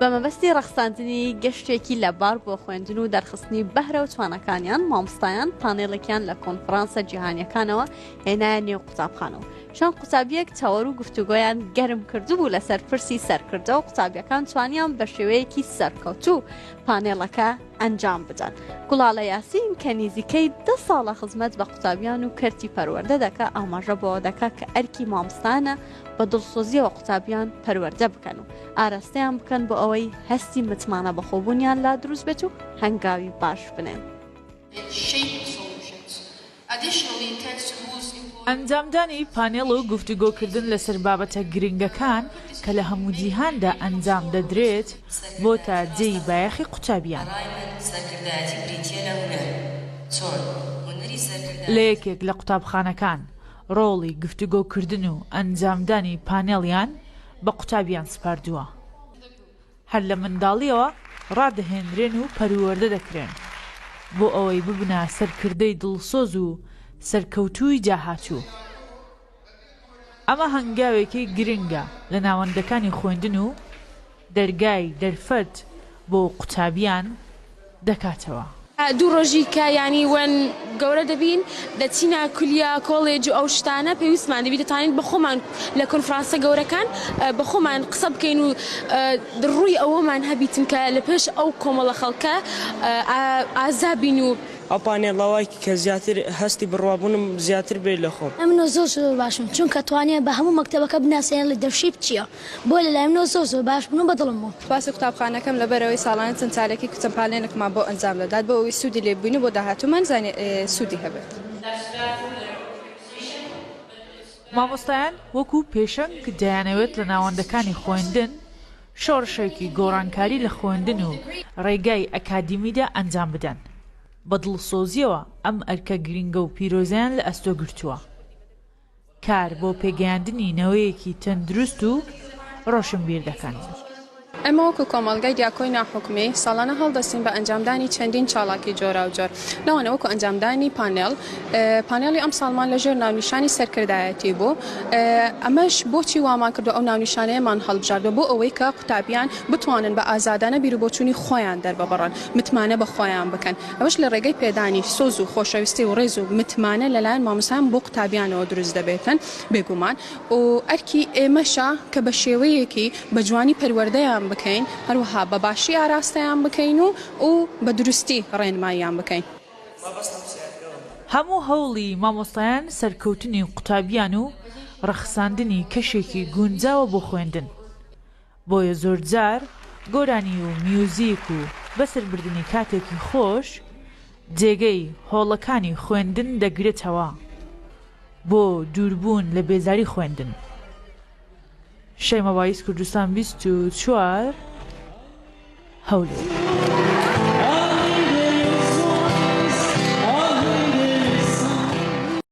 بە مەبەستی ڕەخساندنی گەشتێکی لەبار بۆ خوێندن و دەرخستنی بەهرە و توانەکانیان مامستایان پانێڵێکیان لە کۆنفرانسە جیهانیەکانەوە هێنایە نێو قوتابخانەوە چەند قوتابیەک تەوەر و گفتوگۆیان گەرم کردبوو لەسەر پرسی سەرکردە و قوتابیەکان توانیان بە شێوەیەکی سەرکەوتوو پانێڵەکە ئەنجام بدەن گوڵالە یاسین کە نزیکەی ده ساڵە خزمەت بە قوتابیان و کەرتی پەروەەردە دەکە ئاماژە بۆ دەکات کە ئەرکی مامستانە بە دڵسۆزیەوە قوتابیان پەروەردە بکەن و ئاراستەیان بکەن بۆ ئەوەی هەستی متمانە بەخۆبوونیان لا دروست بێت و هەنگاوی باش بنێن. ئەنجامدانی پانێڵ و گفتوگۆکردن لەسەر بابەتە گرنگەکان کە لە هەموو جیهاندا ئەنجام دەدرێت بۆتە جێی بایەخی قوتابیان. لە یەکێک لە قوتابخانەکان ڕۆڵی گفتوگۆکردن و ئەنجامدانی پانێڵیان بە قوتابیان سپاردووە، هەر لە منداڵییەوە ڕادەهێنرێن و پەروەردە دەکرێن بۆ ئەوەی ببنە سەرکردەی دڵسۆز و سەرکەوتووی داهاتوو. ئەمە هەنگاوێکی گرنگە لە ناوەندەکانی خوێندن و. دەرگای دەرفەت بۆ قوتابیان دەکاتەوە. دوو ڕۆژی کە یانی وەن گەورە دەبین دەچینە کولیا کۆلێج و ئەو شتانە پێویستمان دەبی دەتوانین بە خۆمان لە کۆنفرانسە گەورەکان بە خۆمان قسە بکەین و ڕووی ئەوەمان هەبی چونکە لە پێش ئەو کۆمەڵە خەڵکە ئازا بین و ئەو پانێڵە وای کرد کە زیاتر هەستی بڕوابوونم زیاتر بێت لە خۆم. ئەمنۆ زۆر زۆر باشم چونکە توانیان بە هەموو مەکتەبەکە بناسێنن لە دەرفشیپ چیە بۆ لەلایم نۆ سۆ سۆ باش بن و بەدڵم بوون. سوپاسی قوتابخانەکەم لەبەرئەوەی ساڵانە چەند چالێکی کوچە پانێلکمان بۆ ئەنجام دەدات بۆ ئەوەی سوودی لێ ببینو بۆ داهاتوومان زانیاری سوودی هەبێت. مامۆستایان وەکو پێشەنگ دەیانەوێت لە ناوەندەکانی خۆیندن شۆڕشێکی گۆڕانکاری لە خۆیندن و ڕێگای ئەکادیمیدا ئەنجام بدەن بە دڵسۆزیەوە ئەم ئەرکە گرینگە و پیرۆزەیان لە ئەستۆ گرتووە. کار بۆ پێگەیاندنی نەوەیەکی تەندروست و ڕۆشنبیر دەکەن. ئێمە وەکو کۆمەڵگای دیاکۆی ناحکومی ساڵانە هەڵدەستین بە ئەنجامدانی چەندین چاڵاکی جۆراوجۆر لەوانە وەکو ئەنجامدانی پانێڵ پانێڵی ئەمساڵمان لەژێر ناونیشانی سەرکردایەتی بوو ئەمەش بۆچی وامان کردو ئەو ناونیشانەیەمان هەڵبژاردوە بۆ ئەوەی کە قوتابیان بتوانن بە ئازادانە بیروبۆچونی خۆیان دەرببڕن متمانە بەخۆیان بکەن ئەوەش لە ڕێگەی پێدانی سۆز و خۆشەویستی و ڕێز و متمانە لەلایەن مامۆستایان بۆ قوتابیانەوە دروست دەبێتن بێگومان و ئەرکی ئێمەشە کە بە شێوەیەکی بە جوانی پەروەردەیان بکەین هەروەها بە باشی ئاراستەیان بکەین و و بە دروستی ڕێنماییان بکەین. هەموو هەوڵی مامۆستایان سەرکەوتنی قوتابیان و ڕەخساندنی کەشێکی گونجاوە بۆ خوێندن. بۆیە زۆرجار گۆرانی و میوزیک و بەسەر بردنی کاتێکی خۆش جێگەی هۆڵەکانی خوێندن دەگرێتەوە بۆ دووربوون لە بێزاری خوێندن شەیما وایس کوردستان بیست و چوار هەولێر.